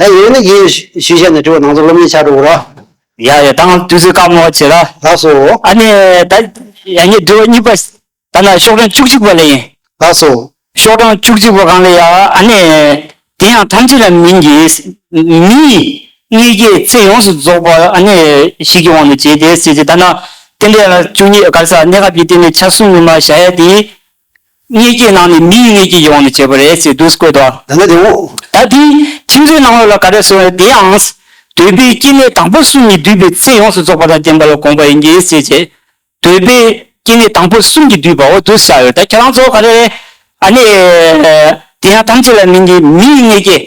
ད་ཡོད་ན་ཡིན། ཞུས་བྱས་ནས་དྲི་བ་ནང་ཚོ་སློབ་གཉེར་ཆགས་འགྲོ་འོང་ར། ཡག་ཡོད་ད་དུས་ཚོད་སྐར་མོ་བ་བྱེད་ར། ལགས་སོ། ཨ་ནེ་ད་ཡག་ཉེས་དྲི་བ་གཉིས་པ། ད་ནང་ཤོག་གྲངས་བཅུ་གཅིག་པ་ལ་ཡིན། ལགས་སོ། ཤོག་གྲངས་བཅུ་གཅིག་པ་གང་ལ་ཡག་ཨ་ནེ། དེ་ཡང་ཐམས་ཅད་ལ་མིན་གྱི། མི་ཡི་མངལ་སྐྱེས་ཚེ་ཡོངས་སུ་རྫོགས་པ་ཨ་ནེ། ཞིག་གི་དབང་དུ་བྱས་དེ་སྲིད་ཀྱི་ད་ནང། རྟེན་འབྲེལ་ལ་བཅུ་གཉིས་དཀར་ས་གནས་སྐབས་ཀྱི་རྟེན་འབྲེལ་ཆ་གསུམ་ནི་མ་བཞག་ཡ་དེའི། མངལ་སྐྱེས་ནང་ནས་མིའི་མངལ་སྐྱེས་ཀྱི་དབང་དུ་བྱས་པ་རེད་ཅེས་བསྡུས་བཀོད་དོ། ད་ནི་དེ་འོང། ད་དེས་ཁྱིམ་མཚེས་ནང་བ་ལ་ག་རེ་ཟེར་བ་དེའང། འདོད་པའི་སྐྱེ་གནས་དང་པོ་གསུམ་གྱིས་བསྡུས་པའི་ཚེ་ཡོངས་སུ་རྫོགས་པ་དང་ལྡན་པ་ལ་དགོངས་པ་ཡིན་གྱི་ཟེར་བྱས། འདོད་པའི་སྐྱེ་གནས་དང་པོ་གསུམ་གྱིས་བསྡུས་པའོ་བསྡུ་བྱ་ཡོད་ད་ཁྱེད་རང་ཚོ་ག་རེ། ཨ་ནི། དེ་ཡང་ཐམས་ཅད་ལ་མིན་གྱི་མིའི་མངལ་སྐྱེས།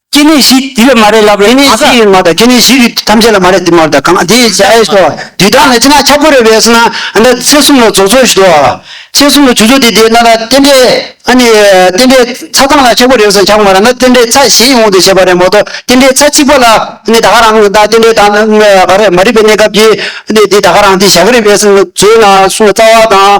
སྐྱེ་གནས་བཞི་དེ་ལ་མ་རེད་ལབ་རེད་མ་ག། མ་དང་སྐྱེ་གནས་བཞི་རིགས་ཐམས་ཅད་ལ་མ་རེད་དེ་མ་རེད་ད་གང་དེ་ཡིན་ཟེར་ཨེ་སོ། དུས་དང་ལ་ཅི་ན་ཁྱབ་དགོས་རེད་བས་སོ་ན་ཨ་ན་ཚེ་གསུམ་ལ་རྫོགས་ཚོད་ཞུ་དོ། ཚེ་གསུམ་ལ་བྱུ་ཚོད་དེ་དེ་ན་ད་རྟེན་འབྲེལ་ཨ་ནི་རྟེན་འབྲེལ་ཚ་ཚང་ལ་ཁྱབ་དགོས་རེད་བས་སོ་ན་ཁྱབ་མ་ར་ན་རྟེན་འབྲེལ་ཚ་གཞན་ཡོང་དེ་བྱས་པ་རེད་མ་གཏོགས་རྟེན་འབྲེལ་ཚ་གཅིག་པ་ལ་ཨ་ནི་ད་ག་རང་ད་རྟེན་འབྲེལ་ད་ནི་ག་རེ་མ་རིག་པའི་གནས་སྐབས་ཀྱི་ཨ་ནི་དེ་ད་ག་རང་དེ་བཞག་གི་རེད་བས་སོ་ན་ཚོད་ན་སོང་ལ་རྩ་བ་དང་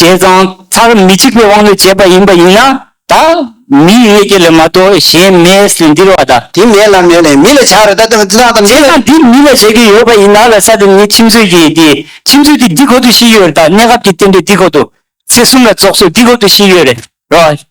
བྱས་ཙང་མཐར་མི་གཅིག་པའི་དབང་དུ་བྱས་པ་ཡིན་པ་ཡིན་ན་ད་མིའི་ཡོད་ཀྱི་ལས་མ་གཏོགས་གཞན་མེད་ཟེར་འདིར་བ་ད། དེ་མེད་ལ་མེད་ལས་མི་ལ་བྱ་རེད་ད་དེ་ཙང་ཙང་མི་ལ། བྱས་ཙང་དེ་མི་ལ་བྱ་གི་ཡོད་པ་ཡིན་ན་ལ་ས་དེ་ནི་ཁྱིམ་མཚོས་ཀྱི་དེ་ཁྱིམ་མཚོས་དེ་འདི་ཁོ་ཐུ་ཤི་ཡོད་རེད་ད་གནས་སྐབས་ཀྱི་བསྟན་པའི་འདི་ཁོ་ཐུ། ཚེ་གསུམ་ལ་རྫོགས་ཚོད་འདི་ཁོ་ཐུ་ཤི་ཡོད་རེད་རོ།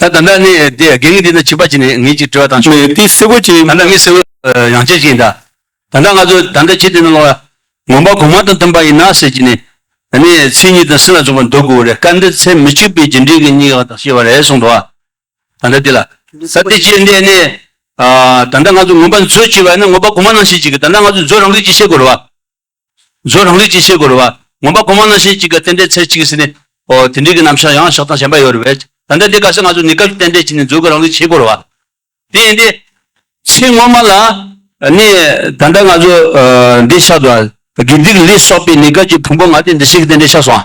ད་ད་ནི་ནི་དེ་དགེ་བསྔིས་འདི་ནི་བྱིས་པ་གྱིས་ནི་ངེད་ཅིག་དྲི་བ་དང། མི་དེ་བསེ་བོ་གྱིས། ད་ནི་མི་བསེ་བོ་ཡང་ཁྱེད་ཀྱིས་འདྲ། ད་ནི་ང་ཚོས་ད་འདྲ་བྱེད་དེ་ནི་ལོག་ཡ། ངོམ་པ་གོང་མ་དང་མཐུན་པ་ཡིན་ན་ཟེར་གྱིས་ནི། ད་ནི་ཚིག་གཉིས་དང་སྲིད་ལ་འཇོག་པར་འདོད་དགོས་རེད་སྐབས་འདིར་ཚེ་མི་གཅིག་པའི་རྗེས་འབྲེལ་གྱི་གཉིས་ཀ་དག་ཤེས་པ་རེད་གསུངས་འགྲོ། ད་འདྲ་དེ་ལ། ད་དེ་བྱེད་འདི་ནི། ད་འདྲ་ང་ཚོས་ངོམ་པ་མཛོད་ཅེས་པ་ནི་ངོམ་པ་གོང་མ་ནང་བཤད་ཅིག་གིས་ད་འདྲ་ང་ཚོས་མཛོད་རང་འགུལ་གྱིས་བཤད་དགོས་རེད་བ། གཟོད་རང་རིག་ཅེས་བཤད་དགོས་རུང་བ། ངོམ་པ་གོང་མ་རྣམ་ཤེས་གཅིག་གི་རྟེན་འབྲེལ་ཚད་གཅིག་གིས་ཟིན་ནས། ཨོ། དེ་འདྲིས་ཀྱི་རྣམ་གཞག་ཡང་ཞག་དང་ཞེན་པ་ཡོད་རུང་བས། ད་ལྟའི་འདི་ག་ས་ང་ཚོས་ནི་སྐབས་ཀྱི་རྟེན་འབྲེལ་གྱིས་ནི་གཟོད་ཀྱི་རང་རིག་བྱེད་དགོས་རུང་བ། དེ་ཡིན་ཏེ། ཚེ་སྔོན་མ་ལ། ནི། ད་ལྟ་ང་ཚོས། འདི་ཆགས་འདུག་ཨ། དགེ་སྡིག་ལས་སོགས་པས་ནི་སྐབས་ཀྱི་ཕུང་པོ་ང་སྟེ་འདི་སྲིད་ཀྱི་རྟེན་འབྲེལ་ཆགས་སོང།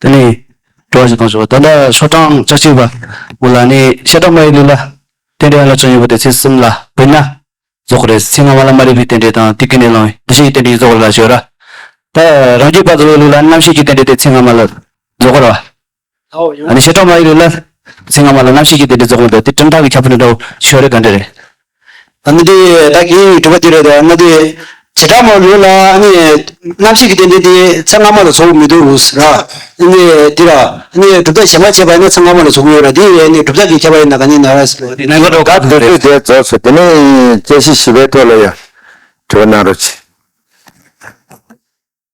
དེ་ནས་འགྲོ་བ་ཞིག་དང་བྱུང་བ་ད་ལྟ་ཆོ་འབྲང་བཅུ་གཅིག་པ་མོ་ལ་ནི་ཤེས་རབ་མ་ཡི་ལུས་ལ་རྟེན་འབྲེལ་ཡང་ལ་བྱུང་ཡོད་པ་དེ་ཚེ་གསུམ་ལ་བུད་ན་རྫོགས་པ་རེད་ཚེ་སྔ་མ་ལ་མ་རིག་པའི་རྟེན་འབྲེལ་དང་ཏིག་གི་ནད་ལོངས་འདུ་ཤེས་ཀྱི་རྟེན་འབྲེལ་རྫོགས་ལ་བྱོས་ར་ད་རང་རྒྱུད་པ་དགའ་བའི་ལུས་ལ་རྣམ་ཤེས་ཀྱི་རྟེན་འབྲེལ་དེ་ཚེ་སྔ་མ་ལ་རྫོགས་པར་བ། ད་ནི་ཤེས་རབ་མ་ཡི་ལུས་ལ་ཚེ་སྔ་མ་ལ་རྣམ་ཤེས་ཀྱི་རྟེན་འབྲེལ་རྫོགས་མ་ད་དེ་ཁྲིམས་ཐག་གི་ཁྱབ་པར་འགྲོ་བ་བྱོས་རེ་ག་འདྲ་རེད་ང་འདི་བདག་གིས་སྒྲུབ་པ་འདི་རེད་ད་ང་འདི་བྱེ་བྲག་མ་ལུས་ལ་རྣམ་ཤེས་ཀྱི་རྟེན་འབྲེལ་འདི་ཚེ་སྔ་མ་ལ་ཚོགས་མི་འདུག་ར། འདི་ར། གྲུབ་རྟགས་གཞན་པ་བྱས་པ་ཡིན་ན་ཚེ་སྔ་མ་ལ་ཚོགས་ཀྱི་ཡོད་ར་འདི་གྲུབ་རྟགས་ཀྱིས་ཁྱབ་པ་ཡིན་ན་ག་ནི་ན་ར། ནང་གི་རོ་ག་བདུད་བདུད་རྩའི་རྫོགས་སོ་དེ་ནི་བཅད་ཤི་ཤི་བའི་ཐོག་ལ་ཡང་དྲི་བ་གནང་རོགས་གྱིས།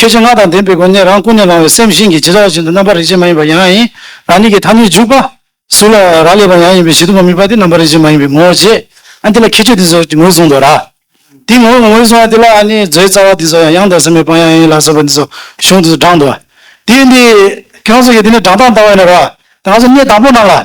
ཁྱེད་ཀྱི་སྔགས་དང་ལྡན་པའི་སྒོ་ནས་རང་ཀུན་ནས་བསླང་བའི་སེམས་བཞིན་གྱི་ཇི་ལྟ་བ་བཞིན་དུ་རྣམ་པར་རིག་བྱེད་མ་ཡིན་པ་ཡང་ཡིན། རང་ཉིད་ཀྱི་ཐ་མི་འཇུག་པ། གཟུགས་ལ་རག་ལས་པ་ཡང་ཡིན་པའི་ཞི་དུལ་མ་དམིགས་པ་དེ་རྣམ་པར་རིག་བྱེད་མ་ཡིན་པའི་ངོ་བོ་བརྗེད། འདི་ལ་ཁྱད་ཆོས་འདི་ཚོ་ངོས་བཟུང་དོ། ར་དེའི་ངོ་བོ་ངོས་བཟུང་བ་དེ་ལ་ནི་མཛོད་རྩ་བ་འདི་ཚོ་ཡང་ཡང་དག་ཟིན་པའི་དཔང་ཡང་ཡིན་ལ་སོགས་པ་འདི་ཚོ་གཞུང་དེ་ཚོ་བགྲངས་ཏོ། དེ་ཡིན་ཏེ། ཁྱོད་ཚོ་ཡི་དེ་ནི་བགྲང་སྟངས་ལྟ་བ་ཡིན་ནོ། ར་དེ་ང་ཚོ་གནས་དང་པོ་རྣམས་ལ།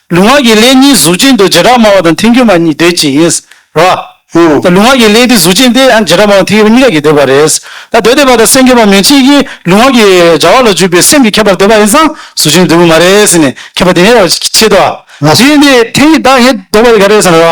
ལུས་ངག་གི་ལས་གཉིས་གཟུགས་ཅན་དུ་བྱེ་བྲག་སྨྲ་བ་དང་མཐུན་འགྱུར་མ་གཉིས་འདོད་ཀྱི་ཡིན། རོ། ལུས་ངག་གི་ལས་དེ་གཟུགས་ཅན་ཏེ་བྱེ་བྲག་སྨྲ་བ་མཐུན་འགྱུར་བ་གཉིས་ཀ་གིས་འདོད་པ་རེད། ད་འདོད་འདོད་པ་དང་སེམས་ཁེགས་པ་མེད་ཕྱིན་གྱིས་ལུས་ངག་གི་བྱ་བ་ལ་འཇུག་པའི་སེམས་ཀྱིས་ཁེགས་པར་འདོད་པ་ཡིན་ཙང་གཟུགས་ཅན་དུ་འདོད་པོ་མ་རེད། ཟེར་ནས་ཁེགས་པ་དེ་ཉེ་བར་བྱེད་དོ། དེ་བཞིན་དུ་དེ་གཉིས་དག་ཡེ་འདོད་པ་ཡི་ག་རེད། རོ།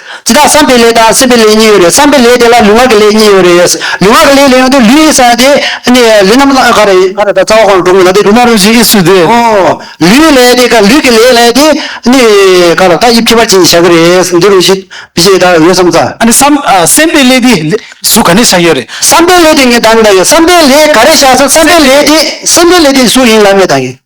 འདི་དག་བསམ་པའི་ལས་དང་སེམས་པའི་ལས་གཉིས་ཡོད་རེད་བསམ་པའི་ལས་དེ་ལ་ལུས་ངག་གི་ལས་གཉིས་ཡོད་རེད། ལུས་ངག་གི་ལས་ལས་ཡོང་དུས་ལུས་ཡིན་ས་ཡིན་ཏེ། ལུས་རྣམ་ལྔ་ག་རེ་ཡིན། ང་ལ་ད་རྩ་བ་གང་དྲུང་ལ་དེ་དྲུང་ན་རུང་བཞིན་ཨི་སུ་དེ། ཨོ། ལུས་ལས་དེ་ག་ལུས་ཀྱི་ལས་ལས་དེ། ག་ལ་ད་དབྱིབས་ཁྱད་པར་ཅན་གྱིས་བྱ་གི་རེད་འདི་རུང་བཞིན་བི་ཞེས་ད་ཡོད་བསམ་ས། ཨ་ནི་བསམ། སེམས་པའི་ལས་དེ་གཟུགས་ག་ནས་ཆགས་ཡོད་རེད། བསམ་པའི་ལས་དེ་ངས་ད་ནི་ད་ཡོད་བསམ་པའི་ལས་ག་རེ་བྱ་ས་བསམ་པའི་ལས་དེ་སེམས་པའི་ལས་དེ་གཟུགས་ཡིན་ལབ་ངས་ད་ངས།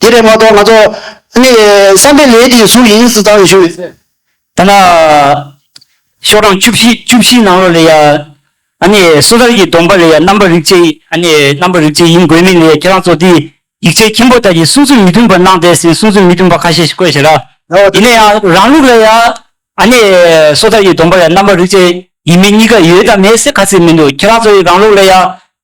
དེ་ལས་མ་གཏོགས་ང་ཚོ། ནི། བསམ་པའི་ལས་དེའི་གཟུགས་ཡིན་སྲིད་ཙང་ཞུ། ཐ་ན། ཤོག་གྲངས་བཅུ་བཞི་བཅུ་བཞིའི་ནང་ལོགས་ལས་ཡ། ནི། སོ་ཐར་གྱི་སྡོམ་པ་ལས་ཡ་རྣམ་པ་རིག་བྱེད། ནི། རྣམ་པ་རིག་བྱེད་ཡིན་དགོས་མིན་ལས་ཡ་ཁྱེད་རང་ཚོ་དེའི། ཡིག་ཆའི་མཁན་པོ་དག་གིས་གསུང་ཚུལ་མི་མཐུན་པ་གནང་བསྡད་ཟིན་གསུང་ཚུལ་མི་མཐུན་པ་ཁ་ཤས་ཤིག་བཀོད་བྱས་ལ། ཡིན་ན་ཡང་རང་ལུགས་ལས་ཡ། ནི། སོ་ཐར་གྱི་སྡོམ་པ་ལས་ཡ་རྣམ་པ་རིག་བྱེད་ཡིན་མིན་གཉིས་ཀ་ཡོད་དམ་མེད་སེ་ག་ཚིག་མི་འདུག་ཁྱེད་རང་ཚོ་ཡི་རང་ལུགས་ལས་ཡ།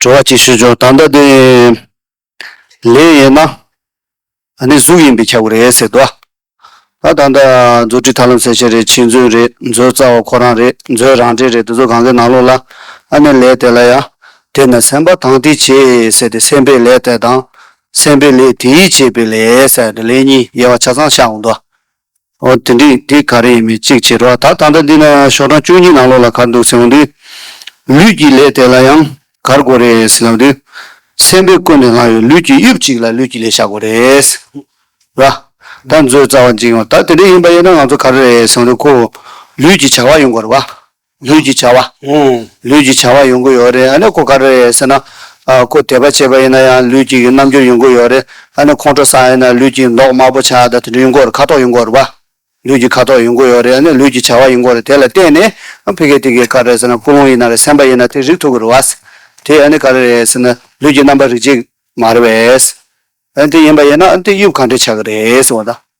དྲི་བ་གཅིག་ཞུས་བྱུང་ད་ལྟ་དེ་ལས་ཡིན་ན་ནི་གཟུགས་ཡིན་པའི་ཁྱབ་བོ་རེད་ཟེར་དུ་ཨ་ད་ལྟ་མཛོད་ཁྲི་ཐར་ལམ་ཟེར་བྱས་རེད་ཕྱིས་མཛོད་རེད་མཛོད་རྩ་བ་ཁོ་རང་རེད་མཛོད་རང་འདྲེ་རེད་དེ་ཚོ་གང་གི་ནང་ལོགས་ལ་ཨ་ནི་ལས་དེ་ལ་ཡ་དེ་ནི་སེམས་པ་དང་དེ་བྱས་ཟེར་དེ་སེམས་པའི་ལས་དེ་དང་སེམས་པའི་ལས་དེའི་བྱས་པའི་ལས་ཟེར་ནི་ལས་གཉིས་དབྱེ་བ་ཆ་ཚང་ཤར་འོང་དུ་ཨོ་དེ་འདྲས་དེ་ག་རེ་ཡིན་མིན་གཅིག་བྱས་འགྲོ་ད་ད་ལྟ་འདི་ན་ཞོགས་གྲངས་བཅུ་གཉིས་ནང་ལོགས་ལ་གར་འདུག་ཟེར་བ་འདི། ལུས་ཀྱི་ལས་དེ་ལ་ཡང་གར་དགོས་རེད་ཟེར་ན་འདི། སེམས་པས་ཀུན་ནས་ལྷག་ཡོད་ལུས་ཀྱི་དབྱིབས་གཅིག་ལ་ལུས་ཀྱི་ལས་བྱ་དགོས་རེད། ར་ད་མཛོད་རྩ་བ་འཇིགས་ཡོང་ད་དེ་འདྲས་ཡིན་པ་ཡིན་ན་ང་ཚོ་ག་རེ་རེད་ཟེར་བ་འདི་ཁོ་བོ་ལུས་ཀྱི་བྱ་བ་ཡོང་དགོས་རེད་བ། ལུས་ཀྱི་བྱ་བ། ལུས་ཀྱི་བྱ་བ་ཡོང་གི་ཡོད་རེད། ཨ་ནི་ཁོ་ག་རེད་ཟེར་ན། ཁོ་དད་པ་བྱས་པ་ཡིན་ན་ཡང་ལུས་ཀྱི་རྣམ་འགྱུར་ཡོང་གི་ཡོད་རེད། ཨ་ནི་ཁོང་ཁྲོ་ཟ་ཡིན་ན་ལུས་ཀྱི་མདོག་དམར་པོ་ཆགས་ད་དེ་འདྲ་ཡོང་གི་རེད་ཁ་དོག་ཡོང་གི་རེད་པ། ལུས་ཀྱི་ཁ་དོག་ཡོང་གི་ཡོད་རེད་ཨ་ནི་ལུས་ཀྱི་བྱ་བ་ཡོང་གི་རེད་དེ་ལ་བརྟེན་ནས། ཕི་གེ་ཏི་གེ་ག་རེད་ཟེར་ན་སྐུ་རླུང་ཡིན་ན་རེད་སེམས་པ་ཡིན་ན་དེ་རིག་ཐུབ་གི་རེད་བ། དེ་ཨ་ནི་ག་རེ་རེད་ཟེར་ན་ལུས་ཀྱི་རྣམ་པ་རིག་བྱེད་མ་རེད་བས། ཨ་ནི་དེ་ཡིན་པ་ཡིན་ན་ཨ་ནི་དེ་དབྱིབས་གང་འདྲ་ཆགས་གི་རེད་ཟེར་བ་དང།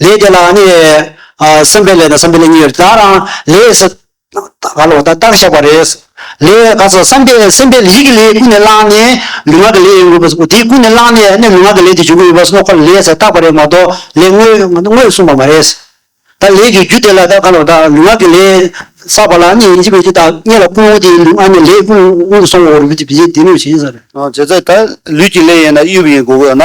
ལས་དེ་ལ་ནི། བསམ་པའི་ལས་དང་བསམ་པའི་ལས་གཉིས་ཡོད་དེ། དང་ལས། ག་ལ་བ་དང་རྟགས་བཞག་པ་རེད། ལས། ག་ཚོད་བསམ་པའི་སེམས་པའི་ཡིད་ཀྱི་ལས་ཀུན་ནས་བསླངས་ནས་ལུས་ངག་གི་ལས་ཡོང་གི་ཡོད་པ། དེ་ཀུན་ནས་བསླངས་ནས་ནི་ལུས་ངག་གི་ལས་དེ་འབྱུང་གི་ཡོད་པ་སོགས་ཀ་ལ་ལས་ཟེར་བཏགས་པ་རེད་མ་གཏོགས་ལས་དངོས་གསུངས་པ་མ་རེད། ད་ལས་ཀྱི་རྒྱུ་དེ་ལ་ད་ག་ལ་བ་དང་ལུས་ངག་གི་ལས་བསགས་པ་ལ་ནི་ཅི་བས་ཅི་བཏགས་རྙེད་ལ་ཀུན་འོང་དེ་ལུས་ངག་ནི་ལས་ཀུན་འོང་དུ་སོང་བའོ་རེད་བྱས་ལས་དེ་ནི་ཡོད་བྱས་ཡིན་ས་རེད། བྱས་ཙང་ད་ལུས་ཀྱི་ལས་ཡིན་ན་དབྱུག་པ་ཡིན་དགོས་ཀྱི་ཡོད་ན།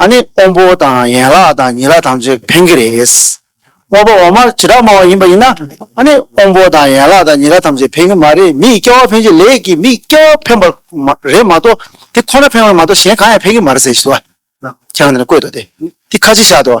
ཨ་ནི་སྤོམ་པོ་དང་ཡན་ལག་དང་ཉིས་ལག་ཐམས་ཅད་འཕེན་གྱི་རེད། སྤོམ་པོ་འོ་མ་ཇི་ལྟར་སྨྲ་བ་ཡིན་པ་ཡིན་ན་ཨ་ནི་སྤོམ་པོ་དང་ཡན་ལག་དང་ཉིས་ལག་ཐམས་ཅད་འཕེན་གྱི་མ་རེད་མི་ཡི་སྐྱེ་བ་འཕེན་བྱེད་ལས་ཀྱི་མི་ཡི་སྐྱེ་བ་འཕེན་པ་རེད་མ་གཏོགས་དེ་ཁོ་ན་འཕེན་བ་མ་གཏོགས་གཞན་གང་ཡང་འཕེན་གྱི་མ་རེད་ཟེར་བཞིན་དུ་ཨ་ཁྱེད་རང་འདི་ན་བཀོད་དོ་དེ་དེ་ཁ་ཕྱི་བཞག་དོ།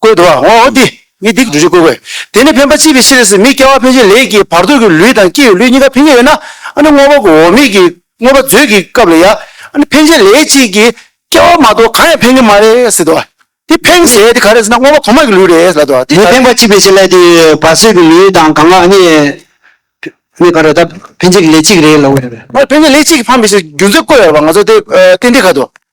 བཀོད་དོ། འོ་འདི་ནི་སྡིག་སྒྲིབ་ཅན་བཀོད་གོ། དེ་ནི་འཕེན་པ་ཅི་བའི་ཕྱིར་སྲིད་མི་སྐྱེ་བ་འཕེན་བྱེད་ལས་ཀྱི་བར་དོ་གི་ལུས་དང་སྐྱེ་བའི་ལུས་གཉིས་ཀ་འཕེན་བྱེད་ཡོད་ན། ནི་བསྔོ་བ་གོ་འོ་མིག་གི་བསྔོ་བ་མཛོད་ཀྱི་སྐབས་ལ་ཡང། ནི་འཕེན་བྱེད་ལས་གཅིག་གིས་སྐྱེ་བ་མ་གཏོགས་གང་ཡང་འཕེན་གྱི་མ་རེད་སྲིད་དོ། དེ་འཕེན་ཟེར་དེ་ག་རེ་ཟེར་ན་བསྔོ་བ་གོ་མ་གི་ལུས་རེད་ལབ་དོ། ནི་འཕེན་པ་ཅི་བའི་ཕྱིར་ལས་ཀྱི་བར་སྲིད་ཀྱི་ལུས་དང་གང་ག་ནི། ནི་ག་རེ་ད་འཕེན་བྱེད་ཀྱི་ལས་གཅིག་རེད་ལབ་དགོས་པ་རེད། འཕེན་བྱེད་ལས་གཅིག་གིས་འཕངས་པའི་ཕྱིར་རྒྱུ་མཚན་བཀོད་ཡོད་པ་ང་ཚོ་དེ་ཏེ་འདི་ག་དོ།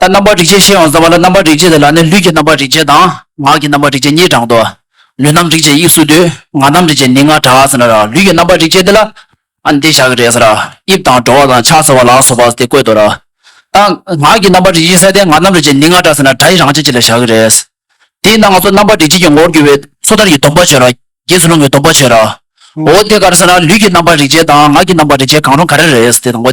ལྟར་རྣམ་པར་རིག་བྱེད་ཤེས་ཡོངས་རྫོགས་པ་ལ་རྣམ་པར་རིག་བྱེད་དེ་ལ་ནི་ལུས་ཀྱི་རྣམ་པར་རིག་བྱེད་དང་ངག་གི་རྣམ་པར་རིག་བྱེད་གཉིས་དྲངས་ཏོ། ལུས་རྣམ་རིག་བྱེད་དབྱིབས་སུ་བསྡུས། ངག་རྣམ་རིག་བྱེད་ནི་སྔར་གྲགས་ཟེར་ན་ར་ལུས་ཀྱི་རྣམ་པར་རིག་བྱེད་དེ་ལ། ཨ་འདི་བཞག་གི་རེད་ཟེར་ར་དབྱིབས་དང་བྲོ་བ་དང་ཕྱག་འཚལ་བ་ལག་སོགས་པ་དེ་བཀོད་དོ། རྟགས་ངག་གི་རྣམ་པར་རིག་བྱེད་གསལ་ཏེ་ངག་རྣམ་རིག་བྱེད་ནི་སྔར་གྲགས་ཟེར་ན་སྒྲ་ཡི་རང་བྱས་ཀྱི་ལ་བཞག་གི་རེད། དེས་ན་ང་ཚོ་རྣམ་པར་རིག་བྱེད་ཀྱི་ངོ་བོར་གྱུར་པའི་སོ་ཐར་གྱི་སྡོམ་པ་བྱས་ར། རྗེས་སུ་ལུང་གི་སྡོམ་པ་བྱས་ར། འོ་དེ་ག་རེ་ཟེར་ན་ལུས་ཀྱི་རྣམ་པར་རིག་བྱེད་དང་ངག་གི་རྣམ་པར་རིག་བྱེད་གང་རུང་ག་རེ་རེད་དེ་དང་པོ།